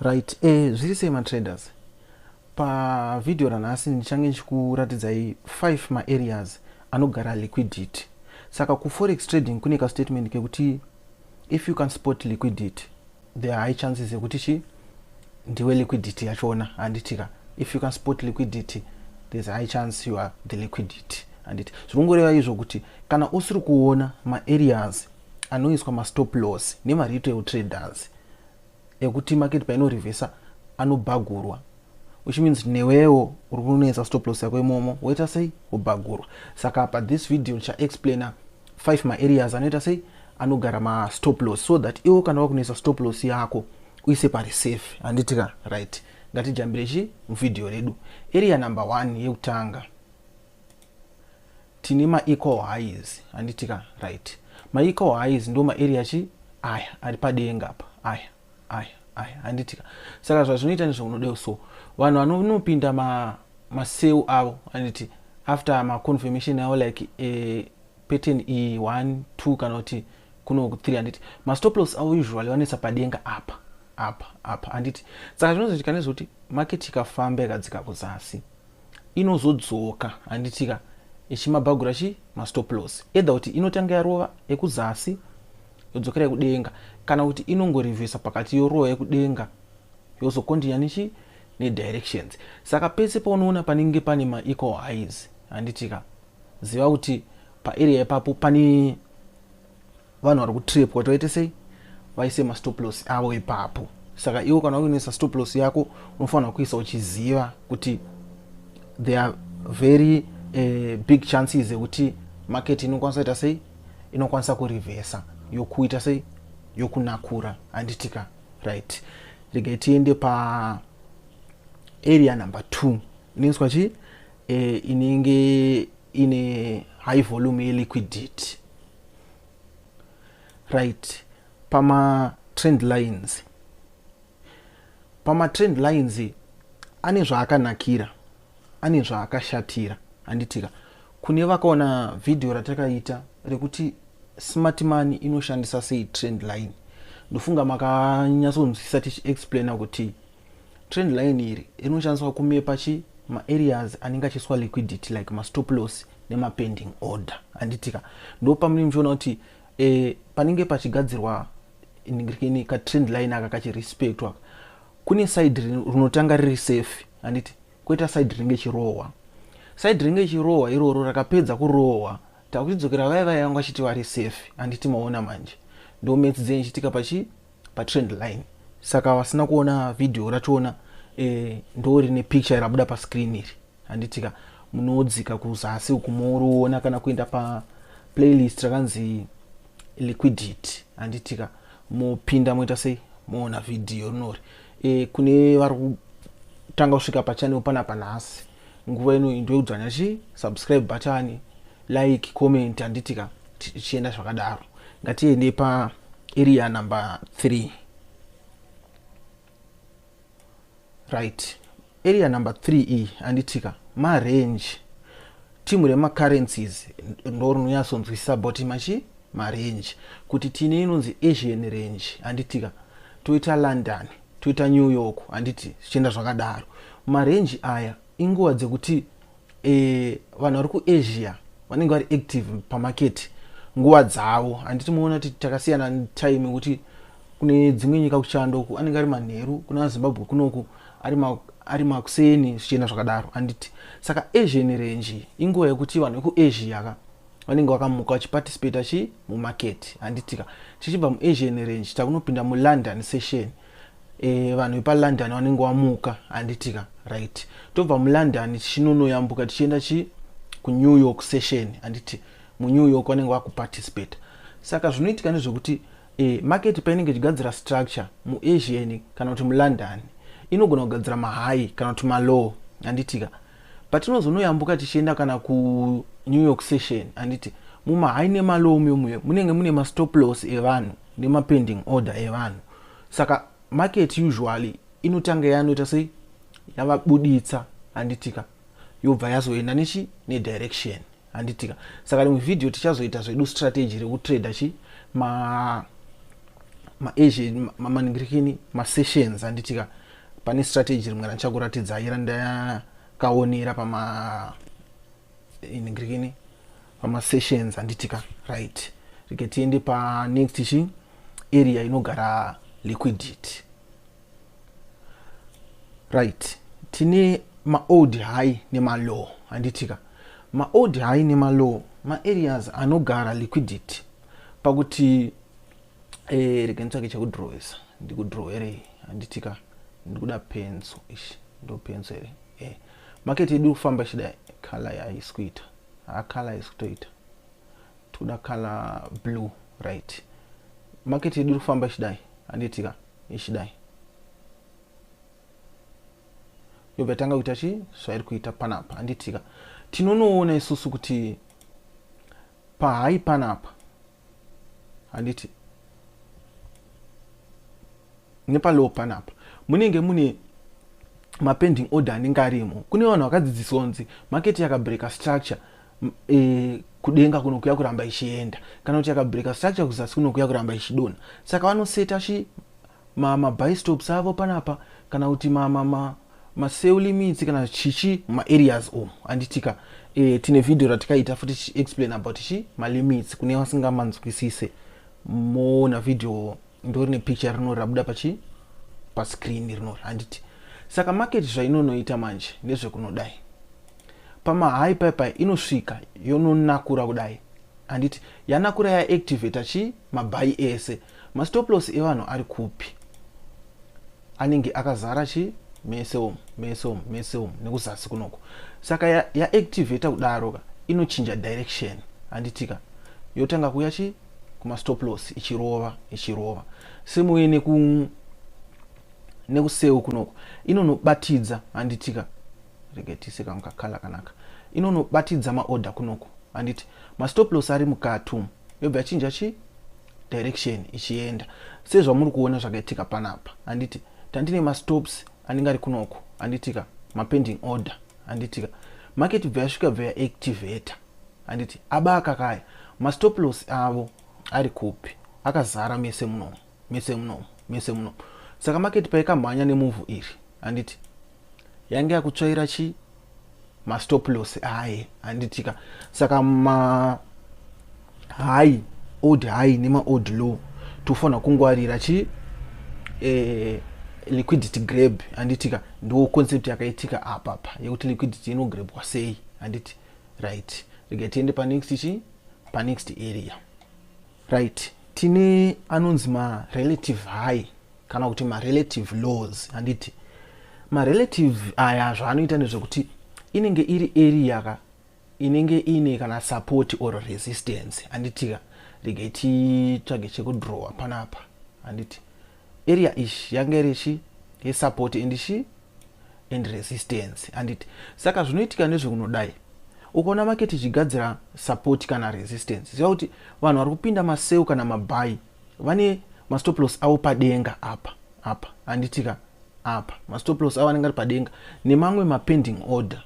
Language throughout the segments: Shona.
Right, eh, zviri sei matraders? Pavhidhiyo ranhasi ndichange ndichikuratidzai 5 maareas anogara liquidity. Saka kuforex trading kune kastatement kekuti if you can spot liquidity there are high chances ekuti chi ndiwe liquidity yachona handitika if you can spot liquidity there's a high chance you are the liquidity handiti zviri kungoreva izvo kuti kana usiri kuona maareas anoiswa mastop loss nemaretail traders ekuti market paino revesa anobhagurwa which means newewo uri kunonetsa stop loss yako imomo woita sei wobhagurwa saka pa this video ndichaexplaina five maareas anoita sei anogara mastop loss so that iwo kana wakunetsa stop loss yako uise pari safe handiti ka right ngatijambire chi muvhidhiyo redu area number one yekutanga Tine ma equal highs handiti ka right. Ma equal highs ndo ma area chi aya ari padenga apa aya aya aya handiti ka. Saka zvazvinoita ndizvo unodeo so vanhu vanonopinda ma ma cell avo handiti after ma confirmation avo like eh, pattern iyi 1 2 kana kuti kuno 3 handiti ma stop loss avo usually vanoisa padenga apa apa apa handiti saka zvinozoitika nezvekuti market ikafamba ikadzika kuzasi inozodzoka handitika ichimabhagura chi mastoplos either kuti inotanga yarova ekuzasi yodzokera yekudenga kana kuti inongorivhesa pakati yorova yekudenga yozokondinya nechi nedirections saka pese paunoona panenge pane maequal highs handitika ziva kuti paarea ipapo pane vanhu vari kutrepwa kuti vaite sei vaise mastop loss avo ipapo saka iwo kana uinoisa stop loss yako unofanira kuisa uchiziva kuti there are very uh, big chances ekuti market inokwanisa ita sei inokwanisa kurivhesa yokuita sei yokunakura handitika right regai tiende pa area number two inoiswa chii e, inenge ine high volume yeliquidity right pamatrend lines pamatrend lines ane zvaakanakira ane zvaakashatira handitika kune vakaona vhidhiyo ratakaita rekuti smart money inoshandisa sei trend line ndofunga makanyatsonzwisisa tichiexplaina kuti Trend line iri rinoshandiswa kumepa chi ma areas anenge achiiswa liquidity like ma stop loss nema pending order handitika ndo pamunenge muchiona kuti eh, panenge pachigadzirwa ini ka trend line aka kachirespectwa kune side rinotanga riri safe handiti koita side rinenge chirohwa side rinenge chirohwa iroro rakapedza kurohwa takuchidzokera vaya vaya vanga vachiti vari safe handiti maona manje ndo maths dzenyu chitika pachi patrend line saka vasina kuona video rachona eh, ndo rine picture rabuda pascreen iri handitika munodzika kuzasi uku moriona kana kuenda pa playlist rakanzi liquidity handitika mopinda moita sei moona video rinori e, kune vari kutanga kusvika pachanel panapa nhasi nguva ino into yekudzvanya chi subscribe button like comment handiti ka tichienda zvakadaro ngatiende pa area number 3 right area number 3 iyi handitika marange timu remacurrencies ndo rinonyatsonzwisisa boti machi marange kuti tine inonzi asian range handitika toita london toita new york handiti zvichienda zvakadaro marenji aya inguva dzekuti e, vanhu vari kuasia vanenge vari active pamaketi nguva dzavo handiti muona kuti takasiyana time kuti kune dzimwe nyika kuchando uku anenge ari manheru kuna azimbabwe kunoku ari makuseni zvichienda zvakadaro handiti saka asian range inguva yekuti vanhu vekuasia ka vanenge vakamuka vachiparticipata chi mumarket handitika tichibva muasian range takunopinda mulondon session e, vanhu vepalondon vanenge vamuka handitika right tobva mulondon tichinonoyambuka tichienda chi kunew york session handiti munew york vanenge vakuparticipata saka zvinoitika nezvekuti e, market painenge ichigadzira structure muasian kana kuti mulondon inogona kugadzira mahigh kana kuti malow handitika Patinozonoyambuka tichienda kana kuNew York session handiti mumahigh nemalow mumuyo munenge mune mastop loss evanhu nemapending order evanhu saka market usually inotanga yanoita sei yavabuditsa handitika yobva yazoenda nechi nedirection handitika saka rimwe vhidhiyo tichazoita zvedu strategy rekutrader chi ma maasian mamaningirikini masessions handitika pane strategy rimwe randichakuratidzai randakaonera pama iningirikini pamasessions handitika right rike tiende panext chi area inogara liquidity right tine maold high nemalow handitika maold high nemalow maareas anogara liquidity pakuti eh, rega nditsvake chekudrowesa ndikudrow here handitika ndikuda penso ishi ndo penso here eh. market yedu kufamba ichida color yaisi kuita hacolor isi kutoita tikuda color blue right market yedu kufamba ichidai handitika ichidai yobva yatanga kuita chii zvairi kuita panapa handitika tinonoona isusu kuti pahai panapa handiti nepalow panapa munenge mune mapending order anenge arimo kune vanhu vakadzidziswa kunzi market yakabreka structure e, kudenga kuno kuya kuramba ichienda kana kuti yakabreaker structure kuzasi kuno kuya kuramba ichidona saka vanoseta chi mabistops avo panapa kana kuti maseu limits kana chichi maareas omu anditika e, tine vhidhiyo ratikaita futi tichiexplain about chi malimits kune vasingamanzwisise moona vhidhiyo ndorine picture rino rabuda pachi pascreen rino handiti saka market zvainonoita manje ndezvekunodai Pamahigh pipe inosvika yononakura kudai handiti yanakura ya activator chi mabhayi ese mastoplos evanhu ari kupi anenge akazara chi mese umu mese umu mese umu nekuzasi kunoko saka ya, ya activator kudaro ka inochinja direction handitika yotanga kuya chi kumastoplos ichirova ichirova semuye neku nekuseu kunoko inonobatidza handitika rega tiise kangu kakala kanaka inonobatidza maorder kunoku handiti mastop loss ari mukati umu yobva yachinja chii direction ichienda sezvamuri kuona zvakaitika panapa handiti tandine mastops anenge ari kunoko handitika mapending order handitika market bva yasvika bva yaactivator handiti aba akakaya mastop loss avo ari kupi akazara mese munomo mese muno mese muno saka market paikamhanya nemuvhu iri handiti yange yakutsvaira chi mastop loss aye handitika saka ma high old high nemaold low tofanira kungwarira chi eh, liquidity grab handitika ndo concept yakaitika apapa yekuti liquidity inograbwa sei handiti right rega tiende panext chi panext area Right. Tine anonzi ma relative high kana kuti ma relative laws handiti ma relative aya zvaanoita ndezvekuti inenge iri area ka inenge ine kana support or resistance handitika regai titsvage chekudrowa panapa handiti area ish yange iri shi yesupport and shi and resistance handiti saka zvinoitika nezvekunodai ukaona maketi ichigadzira support kana resistance ziva kuti vanhu vari kupinda maseu kana mabhayi vane mastoplos avo padenga apa apa handitika apa mastoplos avo anenge ari padenga nemamwe mapending order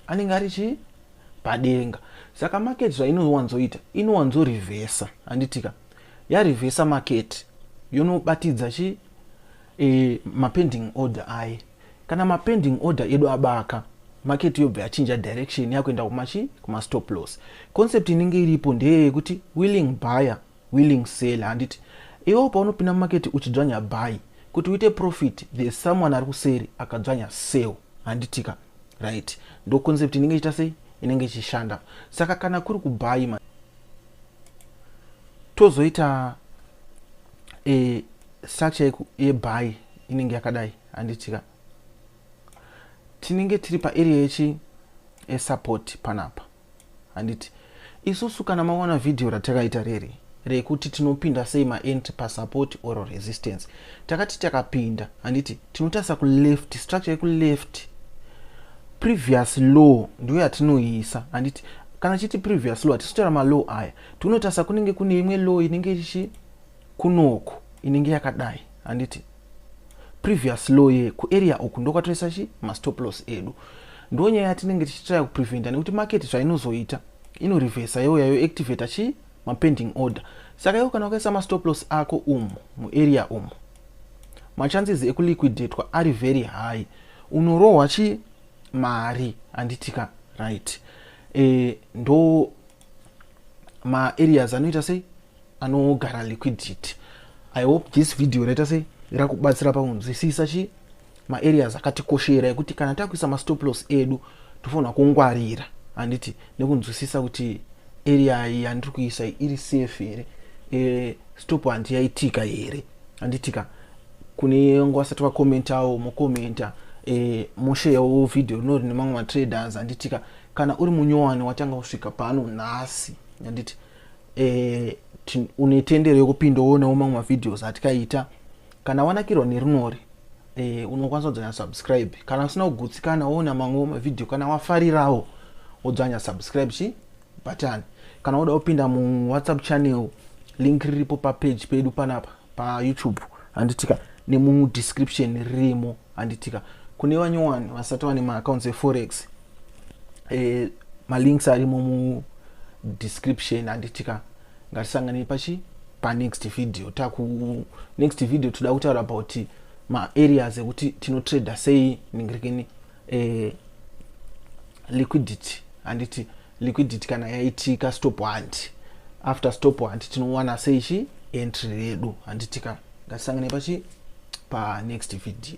anenge ari chii padenga saka maketi zvainowanzoita inowanzorivhesa handitika yarivhesa maketi yonobatidza chi e, mapending order aye kana mapending order edu abaka maketi yobva yachinja direction yakuenda kumachi kumastop loss concept inenge iripo ndeye yekuti willing buyer willing seller handiti iwewo paunopinda mumaketi uchidzvanya buy kuti uite profit the someone ari kuseri akadzvanya sell handitika right ndo concept inenge ichita sei inenge ichishanda saka kana kuri kubaima tozoita e, structure yebuy inenge yakadai handitika tinenge tiri paarea yechi esupport panapa handiti isusu kana maona vhidhiyo ratakaita riri rekuti tinopinda sei maentry pasupport or resistance takati takapinda handiti tinotarisa kuleft structure yekuleft previous law ndiyo yatinoisa handiti Kana chiti previous law tisitaura ma law aya. Tinotarisa kunenge kune imwe law inenge ichi kunoko inenge yakadai handiti previous law ye ku area uku ndokwatoisa chi ma stop loss edu. Ndo nyaya yatinenge tichitaya kupreventa nekuti market zvainozoita ino reversa youya yo activator chi ma pending order. Saka iwe kana wakaisa ma stop loss ako umu mu area umu ma chances eku liquidatwa ari very high. Unorohwa chi mari handitika right e, ndo maareas anoita sei anogara liquidity i hope this video raita sei rakubatsira pakunzwisisa chii maareas akatikoshera ekuti kana takuisa mastoplos edu tofanira kungwarira handiti nekunzwisisa kuti area iyi yandiri kuisa iri safe here e, stop handiyaitika here handitika kune vanga vasati vakomentawo mokomenta eh, mosheyawo vhidhiyo rino rine mamwe matraders handitika kana uri munyowani watanga kusvika pano nhasi handiti eh, une tendero yekupinda woonawo mamwe mavhidhios atikaita kana wanakirwa nerinori eh, unokwanisa kudzanya subscribe kana usina kugutsikana woona mamwewo mavhidhiyo kana wafarirawo wodzanya subscribe chii button kana woda kupinda mu whatsapp channel link riripo pa page pedu panapa pa youtube handitika nemu description ririmo handitika kune vanyowani vasati vane ma accounts e forex eh, ma links arimo mu description handitika ngatisangane pachi pa next video taku next video toda kutaura about ma areas ekuti tino trader sei ningirekeni eh, liquidity handiti liquidity kana yaitika stop hunt after stop hunt tinowana sei chi entry redu handitika ngatisangane pachi pa next video